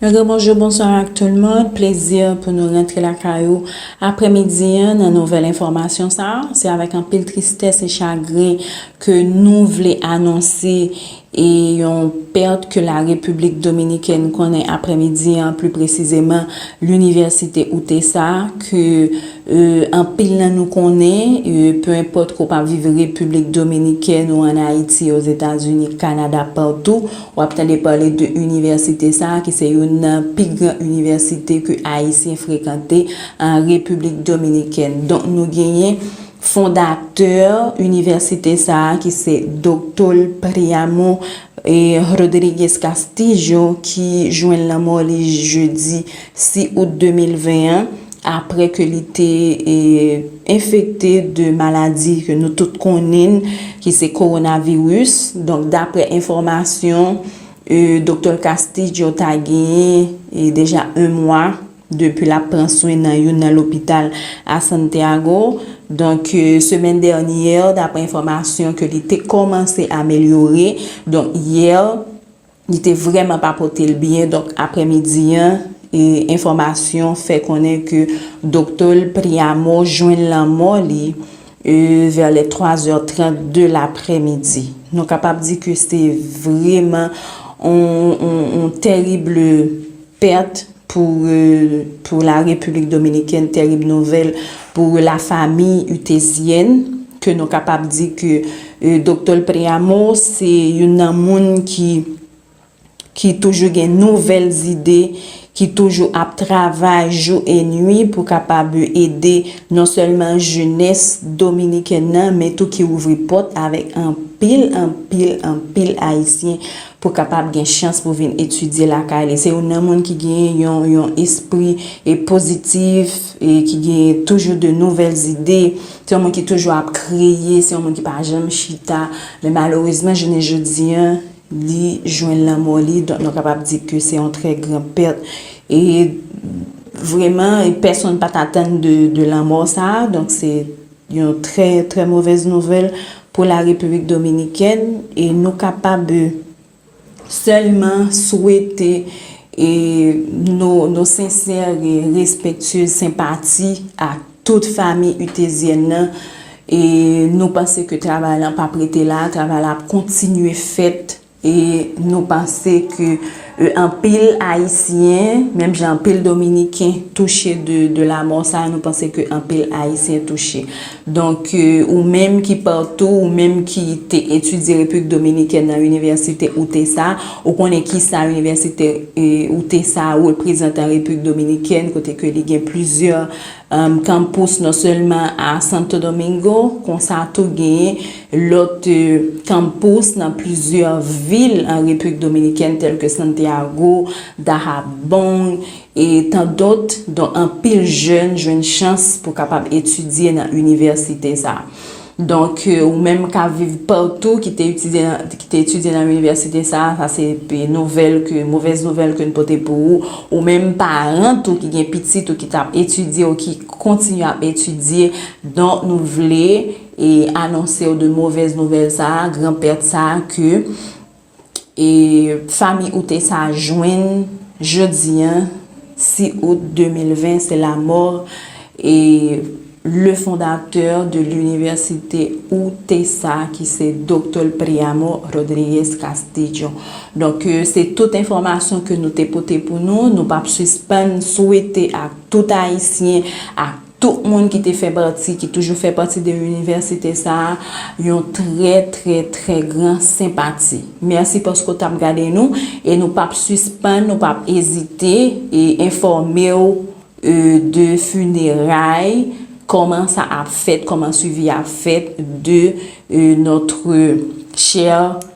Yon gwo bonjou bonswa ak tout moun, plezi pou nou rantre lakay ou aprè midi an nan nouvèl enfòmasyon sa, se avèk anpil tristès e chagren ke nou vle anonse e yon pèt ke la Repiblik Dominikèn konnen aprè midi an pli presizeman Linivèsite Utesa ke Anpil nan nou konnen, pe enpòt ke w pa viv Repiblik Dominikèn ou ann Ayiti, Ozetazini, Kanada, patou, w ap tande pale de inivèsite sa a ki se youn nan pi gran inivèsite ke Ayisyen frekante an Repiblik Dominikèn. Donk nou genyen fondatè inivèsite sa a ki se Doktol Priamo Rodriguez Castillo ki jwenn lanmò li jedi 6 out 2020 an, apre ke li te enfekte de maladi ke nou tout konnin ki se Coronavirus. Donk dapre enfomasyon Doktè Castillo ta genyen deja 1 mwa depi lap pran swen nan youn nan lopital a Santiago. Donk semen dènyè dapre enfomasyon ke li te komanse amelyore. Donk yè. Li te vrèman pa pote l byen donk aprè midi an enfòmasyon fè konnen ke doktè l Priamo jwenn lanmò li vè lè 3 zè 30 de laprè midi. Nou kapab di ke se vreman yon tèrib. Pèt pou pou la Repiblik Dominikèn tèrib nouvèl pou la fami Utezièn ke nou kapab di ke Doktòl Préamo se youn nan moun ki ki toujou gen nouvèl zide ki toujou ap travay jou e nwi pou kapab ede non sèlman jenès Dominikèn nan men tou ki ouvri pòt avèk anpil anpil anpil Ayisyen pou kapab gen chans pou vin etidye lakay li, se youn nan moun ki gen yon yon espri e pozitif e ki gen toujou de nouvèl zide, se yon moun ki toujou ap kreye, se yon moun ki pa janm chita, men malerezman jounen jodi an li jwenn lanmò li, donk nou kapab di ke se yon trè gran pèt e vreman pèsonn pat atann de lanmò sa, donk se. Yon trè, trè movèz nouvèl pou la Repiblik Dominikèn e nou kapab sèlman swete no sensè e respèktye senpati a tout fami Utezyèn nan e nou panse ke travay lan pap rete la, travay la ap kontinye fèt. E nou panse ke anpil Ayisyen, menm jan anpil Dominiken touche de lamò sa, nou panse ke anpil Ayisyen touche. Donk, ou menm ki patou, ou menm ki te etidye Repiblik Dominikèn nan Inivèsite UTESA, ou konnen ki sa Inivèsite UTESA reprezante an Repiblik Dominikèn, kote ke li gen plizyè. Kanmpous non sèlman a Santo Domingo, konsa tou genyen lòt kanmpous nan plizyè vil an Repiblik Dominikèn tèlke Santiago, Dahabong e tan dòt, donk anpil jèn jwenn chans pou kapab etidye nan inivèsite sa. Donk, ou menm k ap viv patou, ki te etidye nan inivèsite sa a, sa se nouvèl ke, movèz nouvèl ke n pote pou ou. Ou menm paran tou ki gen pitit ou ki t ap etidye ou ki kontinye ap etidye, donk nou vle anonse ou de movèz nouvèl sa a, gran pèt sa a ke. E fami ou te sa jwenn jodi an 6 out 2020 se lamò e le fondatè de l'université ou te sa ki se Doctor Priamo Rodriguez Castillo. Donk se tout enfòmasyon ke nou te pote pou nou, nou pap sispann swete ak tout ayisyen ak. Tout moun ki te fè pati, ki toujou fè pati de inivèsite sa a, yon trè, trè, trè gran senpati. Mèsi paske w t ap gade nou e nou p ap sispann, nou p ap ezite e enfòme w de funeray, kòman sa ap fèt, kòman swivi a fèt de notre chère.